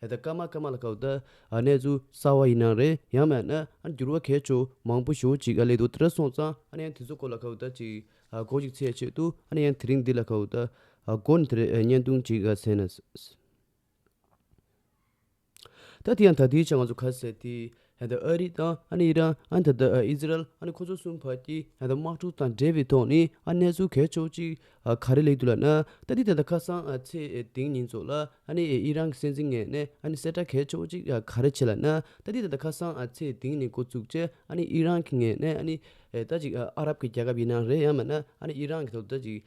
ད་ལྟ་སྐར་མ་སྐར་མ་ལ་ཁག་ད་གནས་ཚུལ་གསར་བ་ཡིན་ན་རེད་ཡང་མེད་ན་འགྱུར་བ་གས་ཆོག་མང་པོ་ཞོག་ཅིག་ལས་དོ་དེར་སོང་ཙང་ཡང་དེ་ཚོ་སྐོར་ལ་ཁག་ད་ཅིག་གོ་ཅིག་ཚེ་ཆེད་དུ་ཡང་དེ་རིང་འདི་ལ་ཁག་ད་དགོ་ནས་དེར་བརྙན་ཐུང་ཅིག་བཟས་ན། ད་དེ་ཡང་ད་ལྟའི་ཆར་ང་ཚོ་ཁ་ཟས་དེ་ཡང་ད་ཨ་རི་དང་ཨ་ནི་ཨི་རན་ཨ་ད་ལྟ་ཨི་ཟི་རལ་ཨ་ནི་ཁོ་ཚོ་གསུམ་བར་གྱི་ཡང་ད་དམག་འཁྲུག་དང་འབྲེལ་བའི་ཐོག་ནས་ཨ་གནས་ཚུལ་གལ་ཆོག་ཅིག་ག་རེ་ལེགས་འདུག་ལབ་ན་ད་ལྟའི་ད་ལྟ་ཁ་སང་ཚེས་དེང་ཉིན་ཚོ་ལ་ཨ་ནི་ཨི་རན་གྱི་སྲིད་འཛིན་ངེས་ནས་ཨ་ནི་གསལ་བསྒྲགས་གལ་ཆོག་ཅིག་ག་རེ་བྱས་ལབ་ན་ད་ལྟའི་ད་ལྟ་ཁ་སང་ཚེས་དེང་ནས་འགོ་བཙུགས་རྗེས་ཨ་ནི་ཨི་རན་གྱི་ངེས་ནས་ཨ་ནི་ད་ཅིག་ཨ་རབ་ཀྱི་རྒྱལ་ཁབ་ཡིན་ན་རེད་ཡང་མིན་ན་ཨ་ནི་ཨི་རན་གྱི་ཐོག་ད་ཅིག་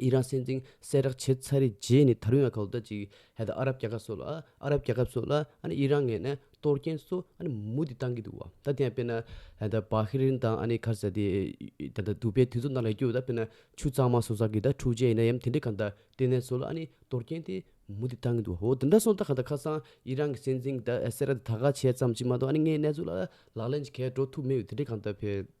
ཨི་རན་སྲིད་འཛིན་གསལ་བསྒྲགས་བྱས་ཚར་རེད་རྗེས་ནས་ད་རུང་ཡང་གོ་བརྡ་གཅིག་ཧད་ཨ་རབ་རྒྱལ་ཁབ་སོགས་ལ་ཨ་རབ་རྒྱལ་ཁབ་སོགས་ལ་ཨི་རན་ངས་ནས་གཏོར་རྐྱེན་སོགས་མུ་མཐུད་གཏང་གི་འདུག་བ་ད་དེ་ཡང་དཔེར་ན་བྷ་ཧི་རིན་དང་ཁ་ས་དེ་ད་ལྟ་དུ་བའི་དུས་ཚོད་ནང་ལ་བསྐྱོད་ད་དཔེར་ན་ཆུ་གཙང་མ་སོགས་ས་གི་ད་འཁྲུག་ཆས་ཡིན་ན་ཡང་དེ་འདྲས་གང་དང་ལྟེ་གནས་སོགས་ལ་གཏོར་རྐྱེན་དེ་མུ་མཐུད་གཏང་གི་འདུག་བ་འོ་དེ་འདྲ་སོང་ད་གང་ད་ཁ་སང་ཨི་རན་གྱི་སྲིད་འཛིན་གསལ་བསྒྲགས་དེ་ད་ག་བྱས་ཙམ་གཅིག་མ་གཏོགས་ངའི་གནས་ཚུལ་ལ་ལག་ལེན་གྱི་གས་འགྲོ་ཐུབ་མེད་འོ་དེ་འདྲས་གང་ད་ཕེབས།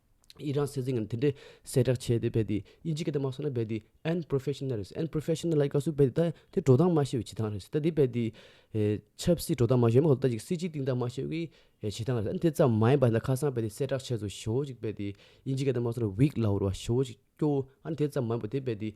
ཨི་རན་སྲིད་འཛིན་ངམ་དེ་འདྲའི་གསལ་བསྒྲགས་བྱས་ཏེ་རྦད་དེ་ཨི་ཇིབ་ཀྱི་ཐོག་མ་སོང་ན་རྦད་དེ་ཨན་པརོ་ཕེ་ཤི་ནལ་རེད་ཨན་པརོ་ཕེ་ཤི་ནལ་ལ་ཡི་ག་སུ་རྦད་དེ་ད་དེ་འགྲོ་སྟངས་མ་ཤེས་པའི་བྱེད་སྟངས་རེད་ད་དེ་རྦད་དེ་ཆབ་སྲིད་འགྲོ་སྟངས་མ་ཤེས་མོད་ད་ཅིག་སྲིད་སྤྱིའི་སྟེང་སྟངས་མ་ཤེས་པའི་བྱེད་སྟངས་རེད་ཨ་དེ་ཙམ་མ་ཡིན་པ་ཁ་སང་རྦད་དེ་གསལ་བསྒྲགས་བྱས་སོ་ཞོ་ཅིག་རྦད་དེ་ཨི་ཇིབ་ཀྱི་ཐོག་མ་སོང་ན་བིག་ལ་ཧོར་བ་ཞོ་ཅིག་སྐྱོ་ཨ་དེ་ཙམ་མ་ཡིན་པ་དེ་རྦད་དེ།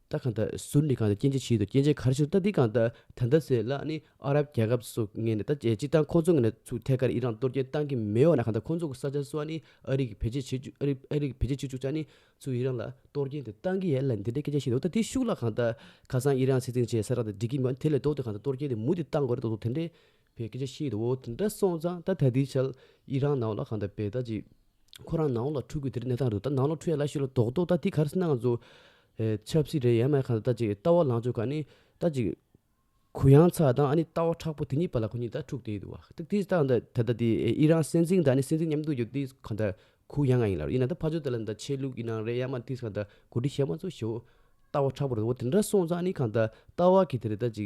རྟ་གང་དང་ཟུར་འདི་གང་དང་སྐྱེ་འཆི་ཕྱིའི་དུ་སྐྱེ་འཆི་གར་ཞུ་རྟ་འདི་གང་དང་ད་ཟེར་ལ་ཨ་ནི་ཨ་རབ་རྒྱལ་ཁབ་སུ་ངས་ནས་ད་ཅིག་ཐང་ཁོང་ཚོ་ངས་ནས་ཚུགས་ཐད་ཀར་ཨི་རང་གཏོར་སྐྱོན་བཏང་གི་མེད་འོ་ན་གང་དང་ཁོང་ཚོ་གི་ས་ཆ་སུ་ཨ་ནི་ཨ་རིག་བེད་སྤྱད་བྱེད་ཨ་རིག་ཨ་རིག་བེད་སྤྱད་བྱེད་བཅུག་ཅག་ནི་ཚུགས་ཨི་རང་ལ་གཏོར་སྐྱོན་དེ་བཏང་གི་ཡ་ལ་འདི་འདྲའི་སྐད་ཆ་བཤད་འདུག་ད་དེ་ཤུགས་ལ་གང་དང་ཁ་སང་ཨི་རང་སྲིད་འཛིན་བྱས་ས་རག་དེ་འགྲིག་གི་མེད་འོ་ན་དེ་ལས་ལྡོག་ཏེ་གང་དང་གཏོར་སྐྱོན་དེ་མུ་མཐུད་བཏང་དགོས་རེད་འདུག་དེ་འདྲའི། བོད་སྐད་ཆ་བཤད་འདུག་འོ་དེ་འདྲ་སོང་ཙང་ད་ད་དུས་ཆར་ཡི་རང་ནང་ལོགས་གང་ད་བེད་ད་ཅི་ཁོ་རང་ནང་ལོགས་འཁྲུག་དགོས་དེ་རིགས་གནས་སྟངས་རེད་ད་ནང་ལོགས་འཁྲུག་ཡ་ལ་ཤི་ལ་དོག་དོག་ད་དེ་ག་རེ་ཟེར་ན་ང་ཚོ་ཆབ་སྲིད་རེད་ཡ་མ་གང་ད་ཅི་ལྟ་བ་ལང་ཕྱོགས་ག་ནི་ད་ཅི་གུ་ཡངས་ཚ་དང་ཨ་ནི་ལྟ་བ་ཁྲག་པོ་དེ་གཉིས་པ་ལ་ཁོ་གཉིས་ད་འཁྲུག་བསྡད་འདུག་བ་དེ་ལྟ་ད་ད་ད་དེ་ཡི་རང་སྲིད་འཛིན་ད་ནི་སྲིད་འཛིན་མཉམ་དུ་ཡོད་དུས་གང་ད་གུ་ཡངས་ཡིན་ལ་ཡིན་ན་ད་ཕ་ཆོས་དེ་ལ་ད་ཆས་ལུགས་ཡིན་ནང་རེད་ཡ་མ་དེ་གང་ད་གོ་སྒྲིག་བྱས་མ་ཚོ་ཞོ་ལྟ་བ་ཁྲག་པོ་རེད་འོ་དེ་འདྲ་སོང་ཙང་ནི་གང་ད་ལྟ་བ་གི་དེ་རེད་ད་ཅི་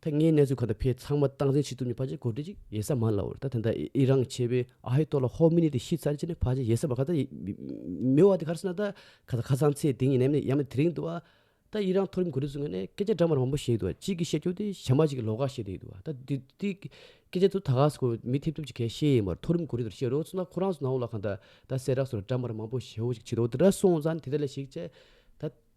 ཐེངས་ལྔའི་གནས་ཚུལ་གང་འདྲ་ཕེབས་ཚང་མ་སྟངས་འཛིན་བྱེད་ཐུབ་ནས་ཕ་ཅེ་གོ་བགྲེས་ཅིག་ཡེ་ས་མ་ལ་འོར་ད་དེ་འདྲ་ཨི་རང་བྱས་པས་ཨ་ཧེ་ཏོ་ལ་ཧོ་མི་ནི་དེ་ཤི་ཚར་རྗེས་ནས་ཕ་ཅེ་ཡེ་ས་མ་ག་ད་ཡིན་མི་བ་དེ་གར་སོང་ན་ད་ག་ད་ཁ་སང་ཚེ་དེ་ཉིན་ནམ་ཡང་མེད་དེ་རིང་དུ་བ་ད་ཨི་རང་མཐོ་རིམ་གོ་བགྲེས་སུ་ངེས་ནས་སྐད་ཆ་འདྲ་མར་མང་པོ་བཤད་ཡོད་དུ་བ་གཅིག་གིས་བཤད་རྒྱུ་དེ་ཞྭ་མ་ཅིག་གིས་ལོ་ག་བཤད་དེ་ཡོད་དུ་བ་ད་དེ་དེ་སྐད་ཆ་དུ་ད་ག་ས་གོ་མི་ཐེབས་ཐུབ་ཅིག་གས་ཤེས་ཡས་མར་མཐོ་རིམ་གོ་བགྲེས་དུ་བཤད་རོགས་སུ་ན་ཁོ་རང་སུ་ན་འོང་ལ་གང་ད་ད་སེ་རག་སུ་ར་འདྲ་མར་མང་པོ་བཤད་འོ་ཅིག་བྱེད་དོ་དེ་འདྲ་སོང་ཙང་དེ་འདྲ་ལས་ཤིག་ཅེས་ད།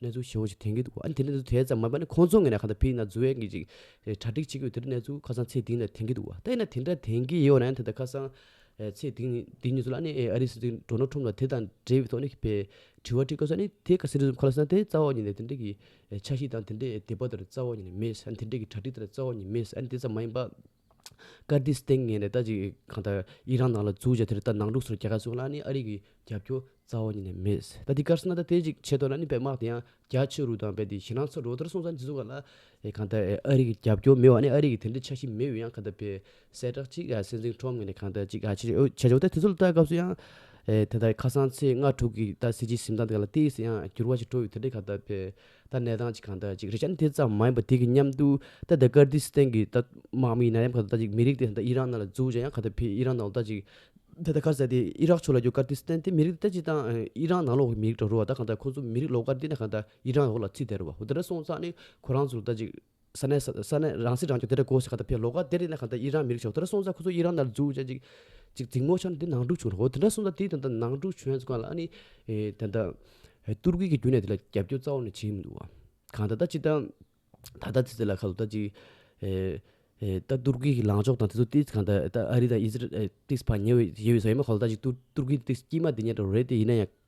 གནས་ཚུལ་ཞིབ་མོ་ཞིག་དེང་གི་འདུག་ཨ་ནི་དེ་ནས་དེ་ཙམ་མ་འབའ་ནི་ཁོང་ཚོ་ངས་ན་ག་ད་ཕིག་ན་རྫུ་བས་ཀྱི་ཅིག་གྲ་སྒྲིག་བྱེད་དགོས་དེ་གནས་ཚུལ་ཁ་སང་ཚེ་དིང་ནས་དེང་གི་འདུག་བ་ད་ཡིན་ན་དེ་འདྲ་དེང་གི་ཡོད་ན་ད་ད་ཁ་སང་ཚེ་དིང་འདི་གཉིས་ཚོ་ལ་ཨ་ནི་ཨ་རིའི་སྲིད་འཛིན་འགྲོ་ནོ་ཁྲོམ་ལ་དེ་དང་འབྲེལ་བའི་ཐོག་ནས་པའི་དྲི་བ་དྲིས་དགོས་ས་ནི་དེ་ག་སེ་རི་ཟུམ་ཁ་ལ་སང་དེ་རྩ་བ་ཉིད་ནས་དེ་འདྲ་གི་ཆ་ཤིག་དང་དེ་འདྲའི་དེ་པ་དེར་རྩ་བ་ཉིད་ནས་མེད་ཨ་ནི་དེ་འདྲའི་གི་གྲ་སྒྲིག་དེ་ལ་རྩ་བ་ཉིད་མེད་ཨ་ནི་དེ་ཙམ་མ་ཡིན་པ། ཀར་ཏིས་སྟེང་ངས་ནས་ད་ཅིག་གང་ལྟར་ཨི་རན་ནང་ལ་འཛུགས་བྱས་དེར་ད་ནང་ལུགས་སུ་རྒྱལ་ཁ་བཟུང་ལ་ནི་ཨ་རིག་གི་རྒྱབ་སྐྱོར་རྩ་བ་ཉིད་ནས་མེད། ད་དེ་ཀར་སི་ན་ད་དེ་ཅིག་བྱས་ཐོག་ལ་ནི་བལ་དམག་དེ་ཡང་རྒྱ་ཆེ་རུ་དང་བས་ཏེ་ཞི་ནང་ཚོ་རོ་དར་སོང་ཙང་དེ་ཚོ་ག་ལ་གང་ལྟར་ཨ་རིག་གི་རྒྱབ་སྐྱོར་མེད་བ་ནི་ཨ་རིག་གི་དེ་འདྲའི་ཆ་ཤིས་མེད་འོས་ཡང་ག་ལྟར་བས་གསལ་བསྒྲགས་ཅིག་ག་སེ་འཛིང་ཁྲོམ་ངས་ནས་གང་ལྟར་ཅིག་ག་བྱེད་ཆོག་བྱེད་ཆོག་ད་དེ་ཚོ་ལ་ལྟ་སྐབས་སུ་ཡང་དེ་ལྟར་ཁ་སང་ཚེས་ལྔ་དྲུག་གི་ད་སྲིད་སྤྱིའི་གཟིམ་ཐང་དེ་ག་ལ་ལྟས་སུ་ཡང་འགྱུར་བ་ཞིག་འགྲོ་ཡོད་དེ་འདྲས་ག་ལྟར་བས། ད་གནས་སྟངས་ཅིག་གང་ལྟར་ཅིག་རེད་ཀྱང་དེ་ཙམ་མ་ཡིན་པ་དེ་གི་མཉམ་དུ་ད་ལྟ་ཀར་ཏི་སི་ཐན་གི་ད་དམག་མི་ཡིན་ན་ཡང་ག་ད་ལྟ་ཅིག་མི་རིགས་དེ་ད་ལྟ་ཨི་རག་ནང་ལ་འཛུགས་ཅིག་ཡང་ག་ད་ཕི་ཨི་རག་ནང་ད་ལྟ་ཅིག་ད་ལྟ་ཁ་ཟས་དེ་ཨི་རག་ཕྱོགས་ལ་རྒྱུ་ཀར་ཏི་སི་ཐན་དེ་མི་རིགས་ད་ལྟ་ཅིག་དང་ཨི་རག་ནང་ལོག་གི་མི་རིགས་དྲ་རུ་བ་ད་ག་ད་ཁོང་ཚོ་མི་རིགས་ལོག་ཀར་དེ་ན་ག་ད་ཨི་རག་ལོག་ལ་ཚིག་དེ་རུ་བ་འོ་ད་དྲ་སོང་ཙང་ནི་ཁོ་རང་ཚོ་ད་ཅིག། ས་གནས་ས་གནས་རང་སྲིད་རང་སྐྱོང་དེ་འདྲ་གོ་ཞེས་ག་ད་ཕེབས་ལོ་ག་དེ་རིང་ནས་ག་ད་ཨི་རན་མི་རིགས་ཞོག་དེ་འདྲ་སོང་ས་ཁོ་ཚོ་ཨི་རན་ནར་འཛུགས་བྱས་ཅིག་ཅིག་རྫིག་མོ་ཆང་དེ་ནང་འཁྲུག་བྱུང་རོགས་དེ་འདྲ་སོང་ས་དེ་ད་ད་ནང་འཁྲུག་བྱུང་ཡས་ཀ་ལ་ཨ་ནི་ད་ད་ཏུར་ཀི་གི་རྒྱུ་ནས་དེ་ལ་རྒྱབ་སྐྱོར་རྩ་བ་ནས་བྱེད་མི་འདུག་བ་གང་ད་ད་ཅིག་ད་ད་ད་ཚེ་ཚེ་ལ་ཁ་ལོ་ད་ཅིག་ད་ཏུར་ཀི་གི་ལངས་ཕྱོགས་དང་དེ་ཚོ་ཏིས་གང་ད་ད་ཨ་རི་དང་ཨི་ཟི་རལ་ཏིས་བར་ཉེ་བའི་ཡོད་ས་ཡོད་མ་ག་ལོ་ད་ཅིག་ཏུར་ཏུར་ཀི་ཏིས་དཀྱིས་མ་དེ་ཉིད་རེད་དེ་ཡིན་ན་ཡང་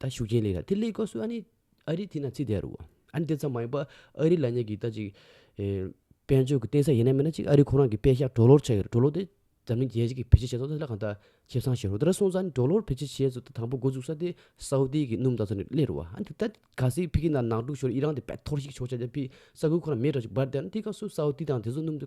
ད་ཤུགས་རྐྱེན་ལས་ལ་དེ་ལས་སྐབས་སུ་ཨ་ནི་ཨ་རི་དེ་ན་ཚིག་དེ་རུ། ཨ་ནི་དེ་ཙམ་མ་ཡིན་པ་ཨ་རི་ལ་ཉེ་གི་ད་ཅིག་དཔལ་འབྱོར་གྱི་བརྟེན་ས་ཡེ་ནས་མེད་ན་ཅིག་ཨ་རི་ཁོ་རང་གི་དཔེ་ཤག་གྲོ་ལོར་ཆགས་ཡོད་རེད་གྲོ་ལོ་དེ་འཛམ་གླིང་རྒྱལ་སྤྱི་གི་བེད་སྤྱད་བྱས་ཚོགས་ཚད་ལ་གང་ད་ཁེབས་ཚང་བྱས་རོགས་དེ་ར་སོང་ཙང་གྲོ་ལོར་བེད་སྤྱད་བྱས་ཚོགས་དང་པོ་འགོ་འཛུགས་ས་དེ་སའུ་ཏི་གི་སྣུམ་ད་ཚོ་ནས་སླེ་རུ་བ་ཨ་ནི་དེ་ད་ག་སེ་ཕི་ཀི་ན་ནག་དྲུག་ཤོར་ཨི་རང་དེ་བད་ཐོར་ཞིག་ཆོག་ཆ་དེ་ཕི་ས་ཁུལ་ཁོ་ན་མེད་ར་ཅིག་འབར་དེ་ཨ་ནི་དེ་སྐབས་སུ་སའུ་ཏི་དང་དེ་ཚོ་སྣུམ་དེ་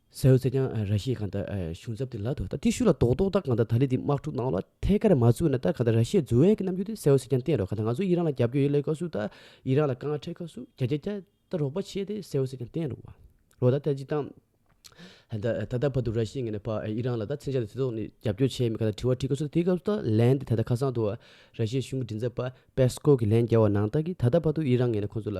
ས་ཡོ་ཚད་ཀྱང་ར་ཤེས་གང་དག་གཞུང་ཚབ་དེ་ལ་དོ་ད་ཏི་ཤུ་ལ་དོག་དོག་ད་གང་དག་ད་ལི་དེ་དམག་འཁྲུག་གནང་ལ་ཐད་ཀར་མ་བཙུགས་ན་ད་གང་དག་ར་ཤེས་འཛུལ་བས་ཀྱི་རྣམ་འགྱུར་དེ་ས་ཡོ་ཚད་ཀྱང་བསྟན་རོགས་གང་དག་ང་ཚོ་ཡི་རང་ལ་རྒྱབ་སྐྱོ་ཡོད་ལས་ཀ་སུ་ད་ཡི་རང་ལ་དཀའ་ངལ་འཕྲད་ཁ་སུ་གྱ་གྱ་གྱ་ད་རོགས་པ་བྱས་དེ་ས་ཡོ་ཚད་ཀྱང་བསྟན་རོགས་རོགས་ད་ད་ཅི་ད་ད་ད་བར་དུ་ར་ཤེས་ངན་ནས་བར་ཡི་རང་ལ་ད་མཚན་བྱ་དེ་དོག་ནས་རྒྱབ་སྐྱོ་བྱས་མི་གང་དག་དྲི་བ་དྲི་ཁ་སུ་ད་དེ་སྐབས་སུ་ད་ལན་དེ་ད་ད་ཁ་སང་དུ་ར་ཤེས་གཞུང་གི་མགྲིན་ཚབ་པ་པེ་སི་ཀོབ་ཀྱི་ལན་བརྒྱ་བ་ནང་ད་ཀྱི་ད་ད་བར་དུ་ཡི་རང་ངན་ནས་ཁོང་ཚོ་ལ་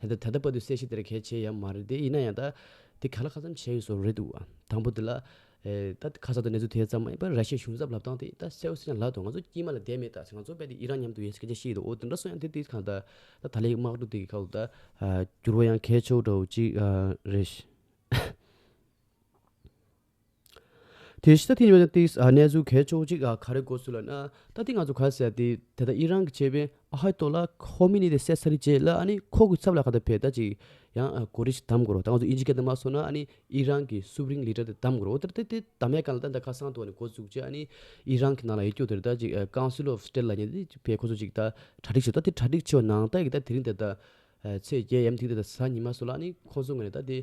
ད་ལྟ་ད་ལྟ་བར་དུ་གསལ་བཤད་དེ་འདྲ་གལ་ཆེ་ཡང་མ་རེད་དེ་ཡིན་ན་ཡང་ད། དེ་ག་ལ་ཁ་ཙམ་བྱས་ཡོད་སོགས་རེད་འདུག་དང་པོ་དེ་ལ། ད་ཁ་སང་དུ་གནས་ཚུལ་དེ་ཙམ་མ་ཡིན་པར་ར་ཤི་ཡའི་གཞུང་ཚབ་ལབ་སྟངས་དེ་ད་གསལ་བོ་སེ་ན་ལགས་འདུག་ང་ཚོ་དཀྱིལ་མ་ལ་དད་མེད་དག་ཚེ་ང་ཚོ་རྦད་དེ་ཨི་རན་མཉམ་དུ་ཡོད་སྐད་ཆ་བཤད་ཡོད་འདུག་འོ་དེ་འདྲ་སོང་ཡང་དེ་དུས་གང་ད། ད་ད་ལའི་དམག་འཁྲུག་དེ་གི་ཁག་ཏུ་ད། འགྱུར་བ་ཡང་ཁེལ་ཆོག་འདྲ་བོ་ཅིག་རེད། དེ་ཤི་ད་ཐི་ཡོད་ན་ཏིག་གནས་ཚུལ་གས་ཆོག་ཅིག་ག་རེ་གོ་ཚུལ་ལ་ན་ད་ཐི་ང་ཚོ་ག་རེ་ཟེར་ཏེ་དེ་ད་ཨི་རང་གི་ཆེ་བའི་ཨ་ཧའི་ཏོ་ལ་ཁོ་མི་ནི་དེ་སད་ས་རི་བྱས་ལ་ཨ་ནི་ཁོ་གི་ཚབ་ལ་ག་ད་བེ་ད་ཅིག་ཡང་གོ་རེ་ཞིག་དམ་གོ་རོ་ད་ང་ཚོ་ཨི་ཇི་ག་ད་མ་སོ་ན་ཨ་ནི་ཨི་རང་གི་སུབ་རིང་ལི་ཏྲ་དེ་དམ་གོ་རོ་ཨོ་ཏེ་ཏེ་ད་མས་ག་ལ་ད་ད་ཁ་སང་དུ་ཨ་ནི་གོ་བཅུག་ཅེ་ཨ་ནི་ཨི་རང་གི་ནང་ལ་ཡེ་སྐྱོ་དེ་རི་ད་ཅིག་ཀང་སི་ལོ་བྷ་ཏེ་ལ་ཉེ་དེ་བེ་ཁོ་ཚོ་ཅིག་ད་གྲ་སྒྲིག་བྱས་ད་ཐི་གྲ་སྒྲིག་བྱས་བ་ནང་ད་ཡི་ག་ད་དེ་རིང་དེ་ད་ཚེས་བརྒྱད་ཡམ་ཐིག་དེ་ད་ས་ཉི་མ་སོ་ལ་ཨ་ནི་ཁོ་ཚོ་ང་ནི་ད་དེ།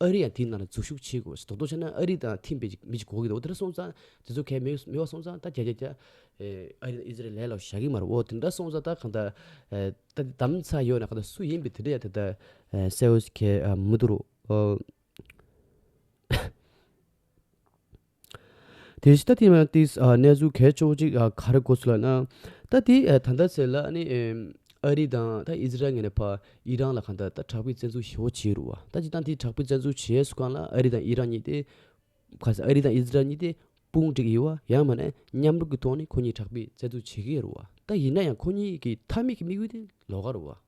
ཨ་རི་ཡང་དེའི་ནང་ལ་འཛུལ་ཞུགས་བྱེད་དགོས་ཟེར་དོག་དོག་བྱས་ན་ཨ་རི་དང་ཐིམ་པའི་མི་ཅིག་གོ་གི་འདུག་དེ་འདྲ་སོང་ཙང་དེ་ཚོ་གས་མི་མི་བ་སོང་ཙང་ད་རྒྱ་རྒྱ་རྒྱ། ཨ་རི་ཨི་ཟི་རལ་ལས་ལོག་བཞག་གི་མ་རེད་འོ་དེ་འདྲ་སོང་ཙང་ད་གང་ད། ད་དེ་དམ་ཚ་ཡོད་ན་གང་ད་སུ་ཡིན་པའི་དེ་འདྲ་ཡང་དེ་ད་སེ་འོས་གས་མི་འདུག་རོ། དེ་ལྟ་དེ་མ་ཏི་གནས་ཚུལ་གལ་ཆེ་བོ་གཅིག་ག་རེ་གོ་ཚོད་ལ་ན། ད་དེ་ད་ལྟ་ཟེར་ལ་ནི་ཨ་རི་དང་ད་ཨིས་རལ་ངན་བར་ཨི་རན་ལ་ག་ད་ད་དྲག་པོའི་བཙན་འཛུལ་ཞི་བོ་བྱེད་རུ་བ་ད་ཅི་སྟངས་དེ་དྲག་པོའི་བཙན་འཛུལ་བྱས་སུ་གང་ལ་ཨ་རི་དང་ཨི་རན་གཉིས་ཏེ། ག་ས་ཨ་རི་དང་ཨིས་རལ་གཉིས་ཏེ་དཔུང་བསྒྲིགས་ཡི་བ་ཡང་མ་ན་མཉམ་རུབ་ཀྱི་ཐོག་ནས་ཁོ་གཉིས་དྲག་པོའི་བཙན་འཛུལ་བྱེད་ཀྱི་རུ་བ་ད་ཡིན་ན་ཡང་ཁོ་གཉིས་ཀྱི་མཐའ་མིག་གི་དམིགས་ཡུལ་ཏེ་ལོག་ག་རུ་བ།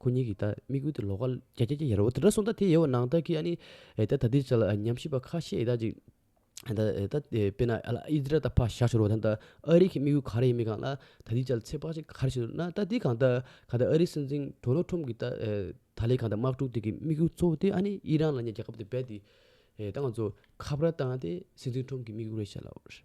ཁོ་གཉིས་ཀྱིས་ད་མིག་ཨུད་དུ་ལོག་ག། ཀྱ་ཀྱ་ཀྱ་ཡ་རོ་ད་དྲ་སོང་ད་དེ་ཡའོ་ནང་ད་ཀི་ཨ་ནི་ཨེ་ད་ད་དེ་བྱ་ལ་ཨ་ཉམས་ཞིབ་པ་ཁ་ཤས་ཨེ་ད་ཅིག་ཨེ་ད་ཨེ་ད་དཔེ་ན་ཨ་ལ་ཨི་ཛི་རལ་ད་ཕ་བཞག་ཤོར་བ་ད་ད་ཨ་རིག་གི་དམིགས་ཡུལ་ག་རེ་ཡིན་མིན་གང་ལ་ད་དེ་བྱ་ལ་ཚེག་བག་ཅིག་ག་རེ་བྱེད་འདོད་ན་ད་དེ་གང་ད་ག་ད་ཨ་རིག་སྲིད་འཛིན་དོ་ནལ་ཁྲོམ་གྱི་ད་ཨེ་ད་ལའི་གང་ད་དམག་འཁྲུག་དེ་གི་དམིགས་ཡུལ་གཙོ་བོ་དེ་ཨ་ནི་ཨི་རན་ལ་ཉེ་རྒྱལ་ཁབ་དེ་རྦད་དེ་ཨེ་ད་ང་ཚོ་ཁ་བརྡ་བཏང་ཏེ་སྲིད་འཛིན་ཁྲོམ་གྱི་དམིགས་ཡུལ་རེད་བྱ་ལ།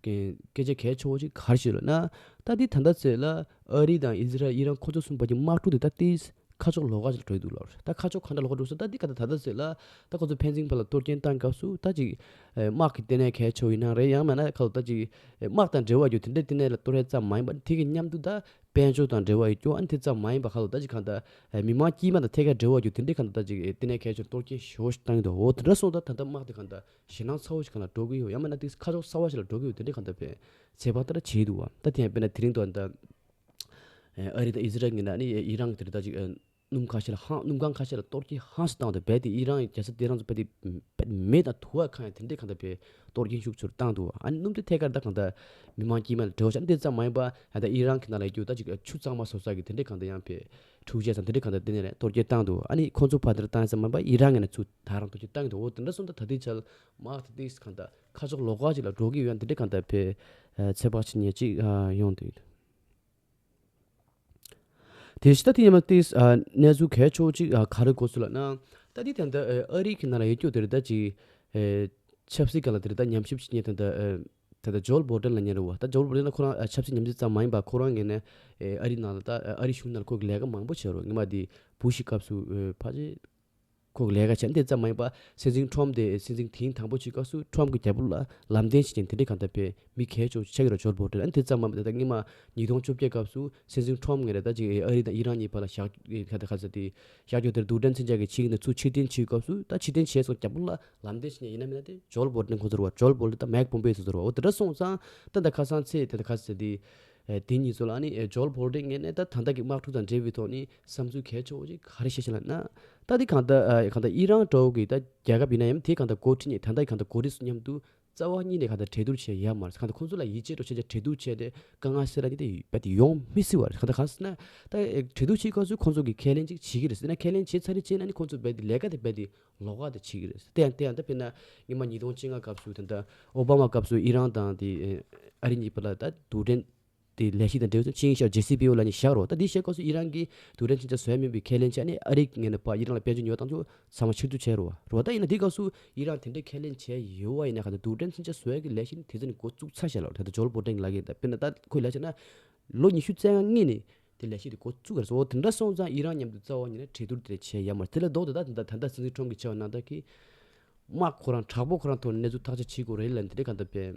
སྐད་ཆ་གལ་ཆེ་བོ་ཞིག་གར་བྱེད་འོས་ན་ད་ལྟའི་ད་ལྟ་ཚེས་ལ་ཨ་རི་དང་ཨི་ཛི་རལ་ཨི་རན་ཁོ་ཚོ་གསུམ་བར་གྱི་དམག་འཁྲུག་དེ་ད་ལྟའི་ཁ་ཕྱོགས་ལོགས་ཀ་ཞིག་ལ་བྲོས་འདུག་ལབ་རེད་ད་ཁ་ཕྱོགས་གང་འདྲ་ལོགས་ཀ་འགྲོ་སོང་ད་ལྟའི་ཁ་ད་ལྟ་ཚེས་ལ་ད་ཁོ་ཚོ་ཕན་ཚུན་བར་ལ་གཏོར་སྐྱོན་བཏང་སྐབས་སུ་ད་ཅིག་དམག་གི་ལྟེ་གནས་གལ་ཆེ་བོ་ཡིན་ནའང་རེད་ཡང་མེད་ན་ཁ་ད་ཅིག་དམག་དང་འབྲེལ་བ་ཡོད་དེ་འདྲའི་ལྟེ་གནས་ལ་གཏོར་ཡ་ཙམ་མ་ཡིན་པ་དེ་གི་མཉམ་དུ་ད་དཔལ་འབྱོར་དང་འབྲེལ་བ་ཡོད་སྐྱོ་ཨ་ནི་དེ་ཙམ་མ་ཡིན་པ་ཁ་ད་ད་ཅིག་གང་ད་མི་དམངས་དཀྱིལ་མ་དང་ཐད་ཀར་འབྲེལ་བ་ཡོད་དེ་འདྲའི་ཁ་ད་ད་ཅིག་ལྟེ་གནས་གལ་ཆེ་བོ་ལ་གཏོར་སྐྱོན་ཞོ་ཞིག་བཏང་ཡོད་འོ་དེ་འདྲ་སོང་ད་ད་ལྟ་དམག་དེ་གང་ད། ཞེད་སྣང་ཚ་བོ་ཞིག་གང་ལ་འགྲོ་གི་ཡོད་ཡང་མིན་ན་དེ་ཁ་ཕྱོགས་གསར་བ་ཞིག་ལ་འགྲོ་གི་ཡོད་དེ་འདྲའི་གང་འདྲ་བའི་བྱས་པ་ལྟར་བྱས་འདུག་བ་ད་དེ་ཡང་དཔེར་ན་དེ་རིང་འདུག་བ་ད་ཨ་རི་དང་ཨི་ཟི་རལ་གཉིས་ན་ནི་ཨི་རང་གི་དེ་རིང་ད་ཅིག་སྣུམ་ཁ་ཤས་ལ་ཧང་སྣུམ་ཁང་ཁ་ཤས་ལ་གཏོར་སྐྱིན་ཧང་ཞིག་བཏང་བ་དང་རྦད་དེ་ཨི་རང་གི་རྒྱལ་ས་དེ་རང་ཚོ་རྦད་དེ་མེ་དང་དུ་བ་ཁ་ཡང་དེ་འདྲའི་གང་འདྲ་བའི་གཏོར་སྐྱིན་ཤུགས་ཆུར་བཏང་འདུག་བ་ཨ་ནི་སྣུམ་དེ་ཐད་ཀར་ད་གང་འདྲ་མི་མང་དཀྱིལ་མ་ལ་བྲོས་བྱ་འདི་ཙམ་མ་ཡིན་པ་ད་ཨི་རང་གི་ནང་ལ་ཡི་གེ་ད་ཅིག་ཆུ་གཙང་མ་བཟོ་ས་གི་དེ་འདྲའི་གང་འདྲ་ཡང་བའི་ཁྲུའུ་ཅན་ས་འདི་འདྲའི་གང་འདྲ་དེ་ནས་གཏོར་སྐྱིན་བཏང་འདུག་བ་ཨ་ནི་ཁོང་ཚོ་ཕར་འདིར་བཏང་ཡོད་ས་མ་ཡིན་པ་ཨི་རང་གི་ནང་ཆུ་ད་རང་དུ་ཁྱེད་བཏང་གི་འདུག་འོ་དེ་འདྲ་སོང་ད་ད་དེའི་ཆ་མར་ད་དེའི་གང་ད་ཁ་ཕྱོགས་ལོག་ཁ་ཅིག་ལ་འགྲོ་གི་ཡོད་འདི་འདྲ་གང་ད་ཕེ་ཚེ་དཔག་ཆེ་ཉེ་གཅིག་ཡོང་དུས་དེ་བཞི་ད་དེ་ཡིན་ན་དེ་གནས་ཚུལ་གས་ཆོག་ཅིག་ག་རེ་གོ་ཚུལ་ལ་ན་ད་དེ་ད་ད་ཨ་རིག་གི་ནང་ལ་ཡོད་རྒྱུ་དེ་རི་ད་ཅི་ཆབ་སྲིད་ག་ལ་དེ་རི་ད་ཉམས་ཞིབ་ཅིག་ཉན་ད་ད་ད་ཇོལ་བོ་ཏན་ལ་ཉན་རི་བ་ད་ཇོལ་བོ་ཏན་ལ་ཁོ་རང་ཆབ་སྲིད་ཉམས་ཞིབ་ཙམ་མ་ཡིན་པ་ཁོ་རང་ངེད་ནས་ཨ་རིག་ནང་ལ་ད་ཨ་རིག་གཞུང་ནང་ལ་ཁོ་གི་ལས་ཀ་མང་པོ་བྱེད་རོགས་ཉི་མ་དེ་བུ་ཞིག་སྐབས་སུ་ཕ་ཆེ། ཁོག་ལས་ཀ་བྱས་འདི་ཙམ་མ་ཡིན་པར་སེམས་ཅན་ཁྲོམ་དེ་སེམས་ཅན་དེའི་དང་པོ་བྱེད་སྐབས་སུ་ཁྲོམ་གྱི་རྒྱལ་པོ་ལ་ལམ་བསྟན་བྱེད་ཅིང་དེ་འདྲའི་གང་ལྟ་བུས་མི་གལ་ཆུང་ཆེ་གེ་རུ་ཇོ་བོ་དྲིལ་ཨ་འདི་ཙམ་མ་ཡིན་པར་ད་ལྟ་སྔོན་མ་ཉིས་སྟོང་བཅོ་བརྒྱད་སྐབས་སུ་སེམས་ཅན་ཁྲོམ་ངས་རེ་ད་ཅིག་ཨ་རི་དང་ཨི་རན་གཉིས་བར་ལ་ཞག་བཞག་རྒྱུ་དེར་འདུག་བྲན་ཚེ་འཇགས་ཀྱི་ཆིངས་ནས་ཚུར་ཕྱིར་འཐེན་བྱེད་སྐབས་སུ་ད་ཕྱིར་འཐེན་བྱས་སོང་རྒྱལ་པོ་ལ་ལམ་བསྟན་བྱེད་ནས་ཡིན་ན་མིན་ན་དེ་ཇོ་བོ་དྲིལ་ཁོ་ཚོར་བ་ཇོ་བོ་དྲིལ་ད་མེག་པོམ་པེ་སུ་ཚོར་བའོ་དེ་འདྲ་སོང་ཙང་ད་ད་ཁ་སང་ཚེས་དེ་ད་ག་ཚོད་དེ་དེ་གཉིས་ཚོ་ལ་ནི་ཇོ་བོ་དྲིལ་ངས་ནས་ད་ད་ལྟ་གི་དམག་འཁྲུག་དང་འབྲེལ་བའི་ཐོག་ནི་བསམ་ཚུལ་གལ་ཆེ་བ་ཞིག་ག་རེ་བཤད་བཞིན་ལ་ན། ད་དེ་གང་ལྟར་ཨ་ཨི་རང་ཀྲོའུ་གི་ད་རྒྱལ་ཁབ་ཡིན་ན་ཡང་དེ་གང་ལྟར་འགོ་ཁྲིད་ནས་ད་ལྟ་གང་ལྟར་འགོ་ཁྲིད་སུ་མཉམ་དུ་རྩ་བ་གཉིས་ནས་གང་ལྟར་གྲལ་བསྡུར་བྱས་ཡས་མ་རེད་གང་ལྟར་ཁོང་ཚོ་ལ་ཡིད་ཆེས་ཀྱིས་ཁྲལ་བསྡུར་བྱས་ཏེ་དཀའ་ངལ་སེལ་ར་ནི་དེ་དེ་ཡོང་མི་སྲིད་བ་རེད་གང་ལྟར་གང་སྲིད་ན། ད་གྲལ་བསྡུར་བྱེད་སྐབས་སུ་ཁོང་ཚོ་གིས་ཁས་ལེན་ཅིག་བྱེད་ཀྱི་རེད་སྲིད་ན་ཁས་ལེན་བྱས་ཚར་རེ་བྱས་ན་ནི་ཁོང་ཚོ་རྦད་དེ་ལས་ཀ་དེ་རྦད་དེ་ལོག་ཀ་དེ་བྱེད་ཀྱི་རེད་སྲིད་དེ་ཡང་དེ་ཡང་ད་དཔེར་ན་སྔོན་མ་ཉིས་སྟོང་བཅོ་ལྔ་སྐབས་སུ་ད་ལྟ་ཨོ་བྷ་མ་སྐབས་སུ་ཨི་རང་དང་དེ་ཨ་རི་གཉིས་པོ་ལ་ད་དུ་འབྲེལ། དེའི་ལས་གཞི་དང་འབྲེལ་བའི་ཚོགས་ཆེན་ཡིག་ཆར་རྗེ་སི་པི་ཡོ་ལ་ནི་བཞག་རོགས་ད་དེའི་ཞལ་བཀོད་སུ་ཡི་རང་གི་དུས་རབས་ཕྱིན་ཆད་བཟོས་མིན་པའི་ཁས་ལེན་བྱས་ནས་ཨ་རིའི་ངས་ནི་པ་ཡི་རང་ལ་དཔལ་འབྱོར་ཉོ་བ་དང་ཚོ་ཚང་མ་ཕྱིར་བསྡུ་བྱས་རོགས་རོགས་ད་ཡིན་ན་དེའི་སྐབས་སུ་ཡི་རང་དེ་འདྲའི་ཁས་ལེན་བྱས་ཡོད་བ་ཡིན་ན་ཁ་ཏོ་དུས་རབས་ཕྱིན་ཆད་བཟོས་ཀྱི་ལས་གཞི་ནི་དེ་ཚོ་ནི་འགོ་བཙུགས་ཚར་ཞེས་ལབ་རོགས་ད་ཇོ་ལ་པོ་ཀྲེང་ལགས་ཀྱིས་ད་དཔེར་ན་ད་ཁོས་ལས་བྱས་ན་ལོ་ཉི་ཤུ་རྩེ་ལྔ་ནི་དེ་ལས་གཞི་དེ་འགོ་བཙུགས་ག་རེ་བཟོ་འོ་དེ་འདྲ་སོང་ཙང་ཡི་རང་མཉམ་དུ་རྩ་བ་ཉིད་ནས་གྲོས་བསྡུར་དེ་འདྲ་བྱས་ཡ་མ་རེད་དེ་ལས་ལྡོག་ཏེ་ད་ད་ལྟ་སྲིད་འཛིན་ཁྲོམ་གྱི་ཆེ་བ་རྣམ་དག་གིས་དམག་ཁོ་རང་དྲག་པོ་ཁོ་རང་ཐོག་ནས་གནས་ཚུལ་ཐག་གཅོད་བྱེད་དགོས་རེད་ལ་འདི་འདྲའི་ག་ད་པའི།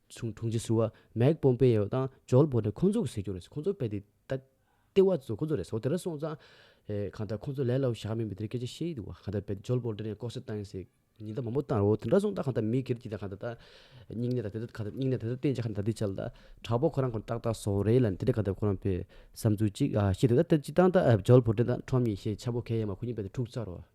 ཆུང་དྲུང་ཆེ་ཟུར་བ་མེག་པོམ་པེ་ཡོ་དང་ཇོལ་བོ་ཏན་ཁོང་ཚོ་གཟིགས་རྒྱུ་རེད་ཁོང་ཚོ་དཔེ་དེབ་ད་ལྟ་བ་བཟོ་གི་རེད་ཟོ་དེ་ར་སོང་ཙང་གང་ལྟར་ཁོང་ཚོ་ལས་སླ་བོ་ཞག་མིན་པའི་དེ་རིང་སྐད་ཆ་བཤད་ཡི་འདུག་བ་གང་ལྟར་ཇོལ་བོ་ཏན་ཡང་ལྐོག་ཟ་བཏང་ཡིན་ཟེར་ཉིན་ལྟར་མང་པོ་བཏང་རོགས་དེ་འདྲ་སོང་ཙང་གང་ལྟར་མི་སྒེར་གྱི་ད་གང་ལྟར་སྙིང་ནད་ད་དེ་ད་སྙིང་ནད་ད་དེ་བསྟེན་ཅིག་ཧ་ད་དེ་བྱ་ལ་དྲག་པོ་ཁོ་རང་ཁོ་ཏག་ཏག་ཟོག་རེད་ལ་དེ་འདྲ་གང་ལྟར་ཁོ་རང་བོས་བསམ་ཚུལ་གཅིག་ཤེས་དེ་ད་ལྟ་ཅི་བཏང་ད་ཇོལ་བོ་ཏན་དང་ཁྲོམ་ཡེ་ཤེས་ཆ་པོ་མཁན་ཡང་མ་ཁོ་གཉིས་བོས་ཏེ་འཁྲུག་ཚར་རོགས།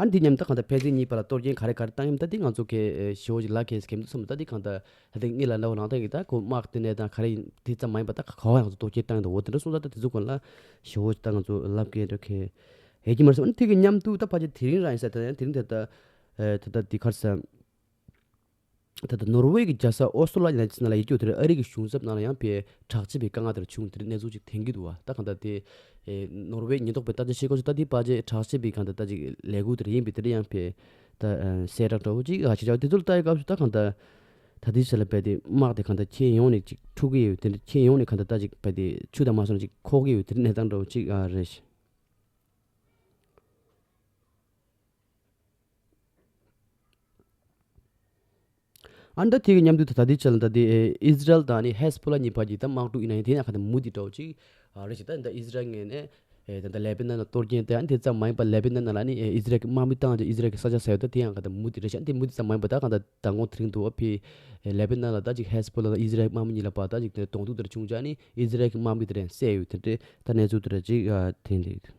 ཨ་འདི་ཉམས་ཐག་གང་ད་ཕལ་ཚིག་གཉིས་པ་ལ་གཏོར་རྒྱན་ག་རེ་ག་རེ་བཏང་ཡམ་ད་འདི་ང་ཚོ་གེ་ཞི་བོ་ཞིག་ལགས་གེ་གེ་མདོ་ཚོ་མོ་ད་འདི་གང་ད་ད་དེ་གཉིས་ལ་ལ་བ་ལང་ཐང་གི་ད་ཁོ་དམག་དེ་ནས་ད་ག་རེ་ཡིན་དེ་ཙམ་མ་ཡིན་པ་ད་ག་ག་བ་ཡང་ང་ཚོ་གཏོར་རྒྱན་བཏང་ཡོད་འོ་དེ་འདྲ་གསུངས་ད་ད་དེ་ཚོ་གོ་ལ་ཞི་བོ་ད་ང་ཚོ་ལབ་གེ་འདྲ་གེ་ཡས་ཀྱི་མ་རེད་སོ་ཨ་འདི་གི་ཉམས་ཐུག་ད་ཕ་ཆེ་དེ་རིང་རང་ཡིན་ས་ད་དེ་རིང་ད་ད་ད་ད་འདི་གར་ས། ད་ལྟ་ནོར་ཝེ་གྱི་རྒྱལ་ས་ཨོ་སོ་ལ་ཡིན་ན་ཅི་ན་ལ་ཡིད་སྐྱོ་དེར་ཨ་རིག་གི་གཞུང་ཚབ་ནང་ལ་ཡང་པའི་བྲག་ཅེས་པའི་སྐད་ངག་དེར་བྱུང་དེར་གནས་ཚུལ་ཅིག་དེང་གི་འདུག་བ་ད་གང་ལྟར་དེ། ནོར་ཝེ་ཉེན་རྟོག་པའི་ལྟ་ཅི་ཤེས་ཀོ་ཆེ་ལྟ་དེའི་པ་ཅེས་བྲག་ཅེས་པའི་གང་ལྟར་ལྟ་ཅིག་ལས་ཁུག་དེར་ཡིན་པས་དེར་ཡང་པའི། ད་སའི་བྲག་དྲ་བོ་ཅིག་ག་ཅིག་ཆགས་དེ་ཚོ་ལ་ལྟ་ཡི་སྐབས་སུ་ད་གང་ལྟར། ད་དེའི་ཟེར་ལ་པའི་དེ་དམག་དེ་གང་ལྟར་ཁྱེད་ཡོང་ནས་ཅིག་འཁྲུག་གི་ཡོད་དེ་འདྲ་ཁྱེད་ཡོང་ནས་གང་ལྟར་ལྟ་ཅིག་པའི་དེ་ཆུ་དང་མ་སོ་ན་ཅིག་ཁོག་གི་ཡོད་དེ་འདྲ་གནས་སྟངས་འདྲ་བོ་ཅིག་རེད། ཨ་མདོ་དེའི་མཉམ་འདུས་ཐད་ད་ལྟའི་ཆར་ལ་ད་ལྟའི་ཨིས་ར་ཨེལ་དང་ནི་ཧེས་པོ་ལཱ་གཉིས་བར་གྱི་ཐད་དམག་འཁྲུག་ཡིན་ན་ཡང་དེ་ནི་ཨ་ཁ་ནས་མུ་མཐུད་འགྲོ་བ་ཅིག་རེད་ཅེ་ད་ནི་ཨིས་ར་ཨེལ་ངས་ནས་ད་ལྟ་ལེ་པེ་ནཱན་ལ་གཏོར་སྐྱེལ་ཏེ་ཨ་ནི་དེ་ཙམ་མ་ཡིན་པར་ལེ་པེ་ནཱན་ནང་ལ་ནི་ཨིས་ར་ཨེལ་གྱི་དམག་མི་བཏང་རྗེས་ཨིས་ར་ཨེལ་གྱི་ས་ཆ་ཟེར་ཡོད་ད་དེ་ཡང་ཨ་ཁ་ནས་མུ་མཐུད་རེད་ཤ་ཨ་ནི་དེ་མུ་མཐུད་ཙམ་མ་ཡིན་པར་ད་གང་ད་ད་དགོང་དེ་རིང་དུ་ཨ་ཕིས་ལེ་པེ་ནཱན་ལ་ད་ཅིག་ཧེས་པོ་ལཱ་དང་ཨིས་ར་ཨེལ་དམག་མི་གཉིས་ལ་བར་ད་ཅིག་དེ་གདོང་ཐུག་དེ་རུ་བྱུང་རྗེས་ཨ་ནི་ཨིས་ར་ཨེལ་གྱི་དམག་མི་དེ་རེད་བསད་ཡོད་དེ་འདྲའི་ད་གནས་ཚུལ་དེ་རེད་ཅིག་དེ་འདྲའི།